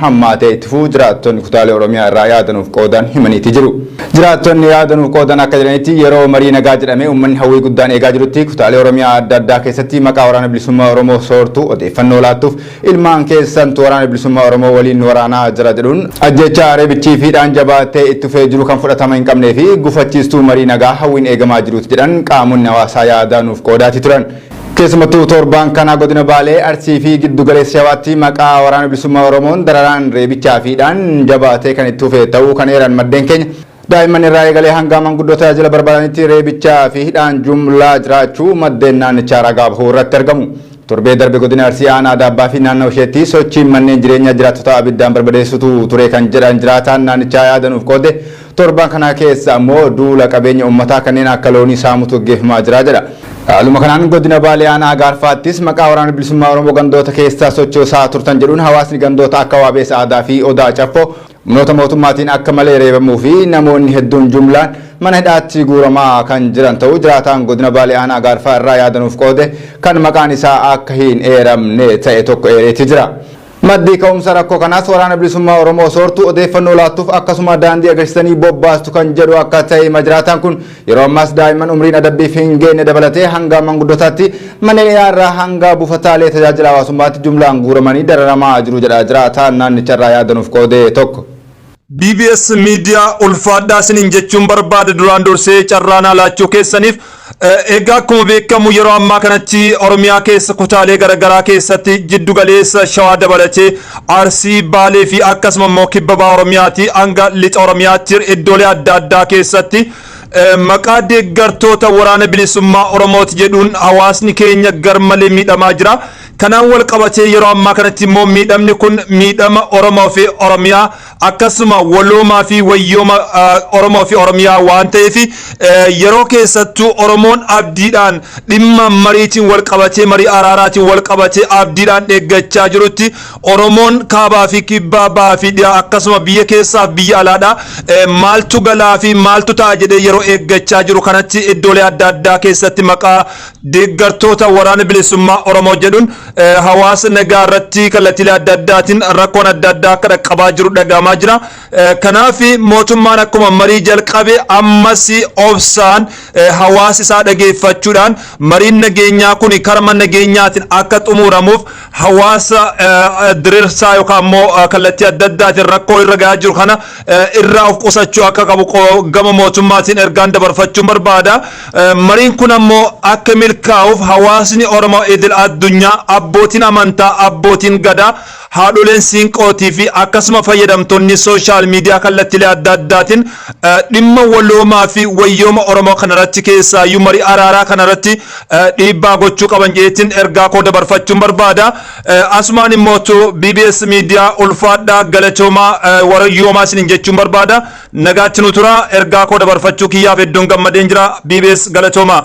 hammaatee itti fufuu jiraattonni kutaalee Oromiyaa irraa yaada nuuf qoodan himaniiti jiru. Jiraattonni yaada nuuf qoodan akka jedhanitti yeroo marii nagaa jedhamee uummanni hawwii guddaan eegaa jirutti kutaalee Oromiyaa adda addaa keessatti maqaa Waraana Bilisummaa Oromoo soortu odeeffannoo laattuuf ilmaan keessantu Waraana Bilisummaa Oromoo waliin nu waraanaa jira jedhuun ajjeechaa, reebichii fi hidhaan jabaatee itti fufee jiru kan fudhatama hin qabnee fi gufachiistuu marii nagaa hawwiin eegamaa jiruuti jedhan qaamonni hawaasaa yaada nuuf qoodaatii turan. Keessumattuu torbaan kana godina Baalee, Arsii fi Giddu Galeessa Shawaatti maqaa Waraana Bilisummaa Oromoon dararaan, reebichaa fi hidhaan jabaatee kan itti fufe ta'uu kan eeran maddeen keenya, daa'imman irraa eegalee hanga manguddoo tajaajila barbaadanitti reebichaa fi hidhaan jumlaa jiraachuu maddeen naannichaa ragaa bahuu irratti argamu. Torbee darbe godina Arsii aanaa Daabbaa fi naannawa isheetti sochiin manneen jireenyaa jiraattotaa abiddaan barbadeessuutu ture kan jedhan jiraataan naannichaa yaada nuuf qoode, Torban kana keessa ammoo duula qabeenya uummataa kanneen akka loonii saamuutu gaggeeffamaa jira jedha. Haaluma kanaan Godina Baalee Aanaa Agaarfaattis maqaa Waraana Bilisummaa Oromoo gandoota keessa sochoosaa turtan jedhuun hawaasni gandoota akka Waabeessa Aadaa fi Odaa Caffoo humnoota mootummaatiin akka malee reebamuu fi namoonni hedduun jumlaan mana hidhaatti guuramaa kan jiran ta'uu jiraataan Godina Baalee Aanaa Agaarfaa irraa yaada nuuf qoode kan maqaan isaa akka hin eeramne ta'e tokko eereetii jira. Maddi ka'umsa rakkoo kanaas Waraana Bilisummaa Oromoo soortu, odeeffannoo laattuuf akkasuma daandii agarsiisanii bobbaastu kan jedhu akka ta'e hima jiraataan kun. Yeroo ammaas daa'imman umriin adabbiif hin geenye dabalatee hanga manguddotaatti manneen hidhaa irraa hanga buufataalee tajaajila hawaasummaatti jumlaan guuramanii dararamaa jiru jedha jiraataan naannicharraa yaada nuuf qoode tokko. BBS Media ulfaadhaa isiniin jechuun barbaada duraan dursee carraa naa laachuu keessaniif. Egaa akkuma beekamu yeroo ammaa kanatti Oromiyaa keessa kutaalee garaagaraa keessatti jiddu galeessa Shawaa dabalatee Arsii, Baalee fi akkasuma immoo Kibba Baha Oromiyaati hanga Lixa Oromiyaatti iddoolee adda addaa keessatti maqaa deeggartoota waraana bilisummaa Oromooti jedhuun hawaasni keenya garmalee miidhamaa jira. Kanaan wal qabatee yeroo ammaa kanatti immoo miidhamni kun miidhama Oromoo fi Oromiyaa akkasuma waloomaa fi wayyooma Oromoo fi Oromiyaa waan ta'eef yeroo keessattuu Oromoon abdiidhaan dhimma mariitiin wal qabatee marii araaraatiin wal qabatee abdiidhaan eeggachaa jirutti Oromoon kaabaa fi kibbaa bahaa fi dhiyaa akkasuma biyya keessaaf biyya alaadhaa maaltu galaa fi maaltu ta'a jedhee yeroo eeggachaa jiru kanatti iddoolee adda addaa keessatti maqaa deeggartoota waraana bilisummaa Oromoo jedhuun hawaasa nagaa irratti kallattiilee adda addaatiin rakkoon adda addaa akka dhaqqabaa jiru dhagahamaa jira. Kanaaf mootummaan akkuma marii jalqabe ammas obsaan hawaasa isaa dhageeffachuudhaan mariin nageenyaa kun karma nageenyaatiin akka xumuramuuf hawaasa dirirsaa yookaan immoo kallattii adda addaatiin rakkoo irra gahaa jiru kana irraa of qusachuu akka qabu gama mootummaatiin ergaan dabarfachuun barbaada. Mariin kun ammoo akka milkaa'uuf hawaasni Oromoo idil addunyaa abbootiin amantaa, abbootiin gadaa, haadholeen siinqootii fi akkasuma fayyadamtoonni sooshaal miidiyaa kallattilee adda addaatiin dhimma waloomaa fi wayyooma Oromoo kanarratti keessaayyuu marii araaraa kanarratti dhiibbaa gochuu qaban jedheetiin ergaa koo dabarfachuun barbaada. Asumaan immootu BBS Media ulfaadhaa galatoomaa warayyoomaa isinin jechuun barbaada. Nagaatti nu tura ergaa koo dabarfachuu kiyyaaf hedduun gammadeen jira. BBS galatoomaa.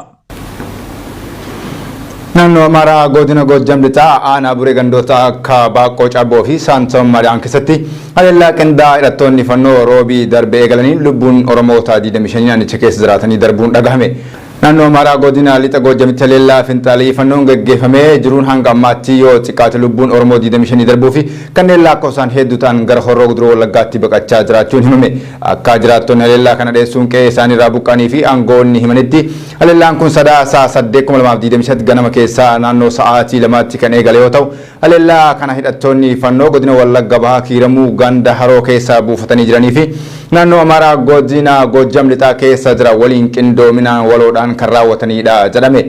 Naannoo Amaaraa godina Goojjam lixaa aanaa buree gandoota akka Baaqqoo Cabboo fi Saantoom Maadaan keessatti haleellaa qindaa'aa hidhattoonni fannoo roobii darbe eegalaniin lubbuun Oromoota 25 naannicha keessa jiraatanii darbuun dhagahame. Naannoo Amaaraa Godina Lixa Goojjamitti haleellaa finxaaleyyifannoon geggeeffamee jiruun hanga ammaatti yoo xiqqaate lubbuun Oromoo 25 darbuu fi kanneen laakkoofsaan heedduu ta'an gara Horroo Guduruu Wallaggaatti baqachaa jiraachuun himame. Akkaa jiraattonni haleellaa kana dheessuun qe'ee isaanii irraa buqqa'anii fi aangoonni himanitti haleellaan kun Sadaasa 8, 2025 ganama keessaa naannoo sa'aatii lamaatti kan eegale yoo ta'u, Haleellaa kana hidhattoonni Fannoo Godina Wallagga Bahaa Kiiramuu ganda Haroo keessa buufatanii jiranii fi Naannoo Amaaraa Godina Goojjam Lixaa keessa jira waliin qindoominaan waloodhaan kan raawwataniidha jedhame.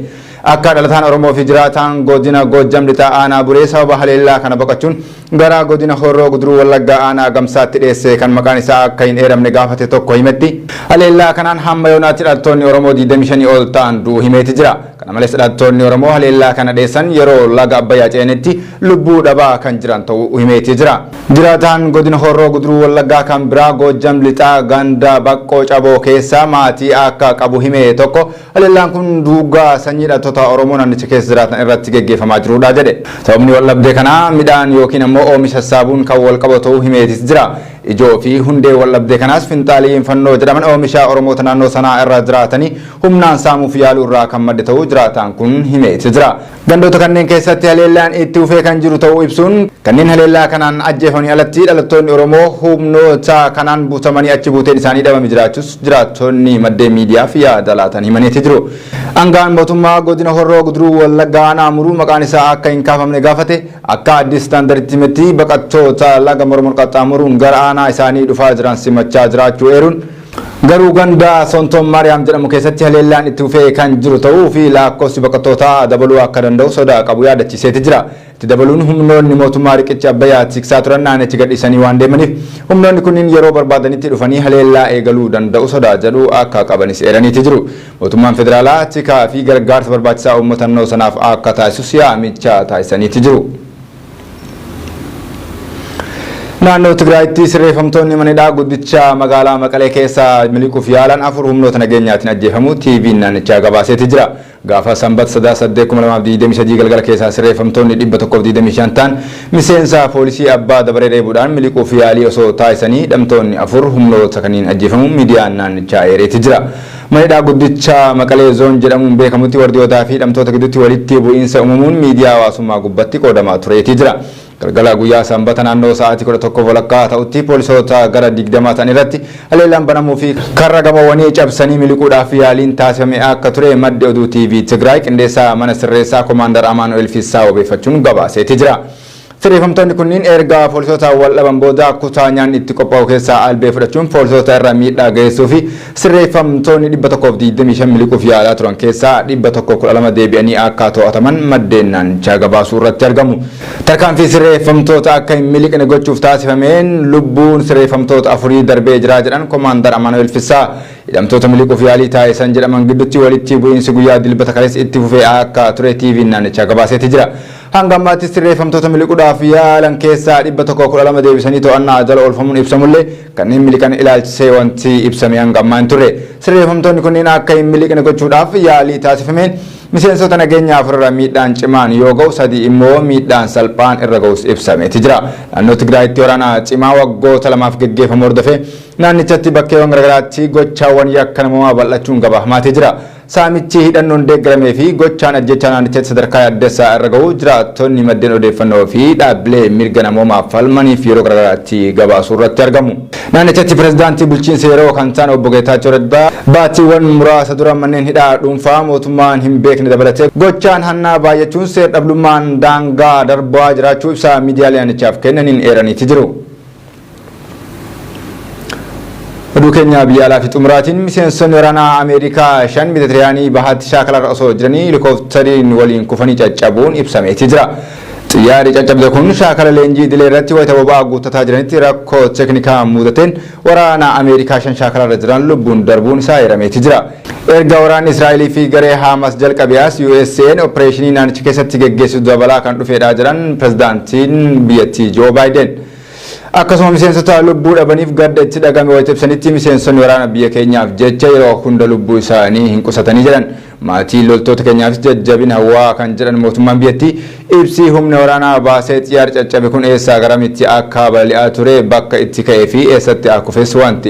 Akka dhalataan Oromoo fi jiraataan Godina Goojjam Lixaa Aanaa Buree sababa haleellaa kana baqachuun gara Godina Horroo Guduruu Wallaggaa Aanaa Agamsaatti dheesse kan maqaan isaa akka hin eeramne gaafate tokko himetti. Haleellaa kanaan hamma yoonaatti dhalttoonni Oromoo 25 ol ta'an du'u himeeti jira. Kana malees dhalattoonni Oromoo haleellaa kana dheessan yeroo laga Abbayyaa ce'anitti lubbuu dhabaa kan jiran ta'uu himeeti jira. Jiraataan Godina Horroo Guduruu Wallaggaa kan biraa Goojjam Lixaa ganda Baqqoo Caboo keessa maatii akka qabu hime tokko haleellaan kun duugaa sanyii dhalattoota Oromoo naannicha keessa jiraatan irratti geggeeffamaa jiruudha jedhe. Sababni waldhabdee kanaa midhaan yookiin ammoo oomisha sassaabuun kan walqabatu ta'uu himeetis jira. Ijoo fi hundee waldhabdee kanaas finxaaleeyyiin Fannoo jedhaman oomisha Oromoota naannoo sanaa irra jiraatanii humnaan saamuuf yaaluu irraa kan madde ta'uu jiraataan kun himee ibse jira. Gandoota kanneen keessatti haleellaan itti fufee kan jiru ta'uu ibsuun, kanneen haleellaa kanaan ajjeefamanii alatti dhalattoonni Oromoo humnoota kanaan butamanii achi buuteen isaanii dhabame jiraachuus jiraattonni maddeen miidiyaaf yaada laatan himaniiti jiru. Aanga'aan mootummaa godina Horroo Guduruu Wallaggaa aanaa Amuruu maqaan isaa akka hin kaafamne gaafate Akka Addis Standarditti himetti, baqattoota laga Mormor qaxxaamuruun gara aanaa isaanii dhufaa jiran simachaa jiraachuu eeruun, garuu ganda Sonton Maariyaam jedhamu keessatti haleellaan itti fufee kan jiru ta'uu fi laakkofsi baqattootaa dabaluu akka danda'u sodaa qabu yaadachiiseeti jira. Itti dabaluun humnoonni mootummaa riqicha Abbayyaa tiksaa turan naannicha gadhiisanii waan deemaniif humnoonni kunniin yeroo barbaadanitti dhufanii haleellaa eegaluu danda'u sodaa jedhu akka qabanis eeraniiti jiru. Mootummaan Federaalaa tikaa fi gargaarsa barbaachisaa uummata nannoo sanaaf akka taasisus yaamicha taasisaniiti jiru. Naannoo Tigraayitti sirreeffamtoonni mana hidhaa guddicha magaalaa Maqalee keessa miliquuf yaalan afur humnoota nageenyaatiin ajjeefamuu TVn naannichaa gabaaseeti jira. Gaafa Sanbata Sadaasa 8,2023 galgala keessaa sirreeffamtoonni 125 ta'an miseensa poolisii abbaa dabaree reebuudhaan miliquuf yaalii osoo taasisanii hidhamtoonni afur humnoota kanniin ajjeefamuu miidiyaan naannichaa eereeti jira. Mana hidhaa guddicha Maqalee Zoon jedhamuun beekamutti wardiyootaa fi hidhamtoota gidduutti walitti bu'iinsa uumamuun miidiyaa hawaasummaa gubbatti qoodamaa tureetii jira. Galgala guyyaa Sanbata naannoo sa'aatii 11 walakkaa ta'utti poolisoota gara 20 ta'an irratti haleellaan banamuu fi karra gamoowwanii cabsanii miliquudhaaf yaaliin taasifame akka ture maddi oduu TV Tigraay qindeessaa mana sirreessaa Komaandar Amaanu'eel Fissaa wabeeffachuun gabaaseetii jira. Sirreeffamtoonni kunniin erga poolisootaan wal dhaban booda kutaa nyaanni itti qophaa'u keessaa albee fudhachuun poolisoota irra miidhaa geessuu fi sirreeffamtoonni 125 miliquuf yaalaa turan keessaa 112 deebi'anii akka to'ataman maddeen naannichaa gabaasuu irratti argamu. Tarkaanfii sirreeffamtoota akka hin miliqne gochuuf taasifameen lubbuun sirreeffamtoota afurii darbee jira jedhan Komaandar Amaanu'eel Fissaa. Hidhamtoota miliquuf yaalii taasisan jedhaman gidduutti walitti bu'iinsi guyyaa Dilbata kaleessa itti fufee akka ture TVn naannichaa gabaaseeti jira. Hanga ammaatti sirreeffamtoota miliquudhaaf yaalan keessaa 112 deebisanii to'annaa jala oolfamuun ibsamullee kanneen miliqan ilaalchisee wanti ibsame hanga ammaa hin turre. Sirreeffamtoonni kunneen akka hin miliqne gochuudhaaf yaalii taasifameen miseensota nageenyaa afur irra miidhaan cimaan yoo ga'u sadii immoo miidhaan salphaan irra ga'us ibsameeti jira. Naannoo Tigraayitti waraana cimaa waggoota lamaaf geggeeffamu hordofee naannichatti bakkeewwan garaagaraatti gochaawwan yakka namoomaa bal'achuun gabaafamaatee jira. Saamichi hidhannoon deeggaramee fi gochaan ajjeechaa naannichatti sadarkaa yaaddessaa irra gahuu jiraattonni maddeen odeeffannoo fi dhaabbilee mirga namoomaaf falmaniif yeroo garagaraatti gabaasuu irratti argamu. Naannichatti Pirezidaantii bulchiinsa yeroo kan ta'an Obbo Geetaachoo Raddaa baatiiwwan muraasa dura manneen hidhaa dhuunfaa mootummaan hin beekne dabalatee gochaan hannaa baayyachuun seer-dhablummaan daangaa darbaa jiraachuu ibsa miidiyaalee naannichaaf kennaniin eeraniiti jiru. Oduu keenya biyya alaa fi xumuraatiin miseensonni waraanaa Ameerikaa shan Mediteraanii bahaatti shaakalarra osoo jiranii helikooftariin waliin kufanii caccabuun ibsameeti jira. Xiyyaarri caccabde kun shaakala leenjii idilee irratti wayita boba'aa guuttataa jiranitti rakkoo teeknikaa muudateen waraanaa Ameerikaa shan shaakalarra jiran lubbuun darbuun isaa eerameeti jira. Erga waraanni Israa'elii fi garee Haamas jalqabe as USA'n oppireeshinii naannicha keessatti geggeessitu dabalaa kan dhufeedha jedhan pirezidaantiin biyyattii Joo Baayiden. Akkasuma miseensota lubbuu dhabaniif gadda itti dhagahame wayita ibsanitti miseensonni waraana biyya keenyaaf jecha yeroo hunda lubbuu isaanii hin qusatanii jedhan. Maatii loltoota keenyaafis jajjabina hawwaa kan jedhan mootummaan biyyattii, ibsi humni waraanaa baasee xiyyaarri caccabe kun eessaa garamitti akka balali'aa ture, bakka itti ka'ee fi eessatti akufes wanti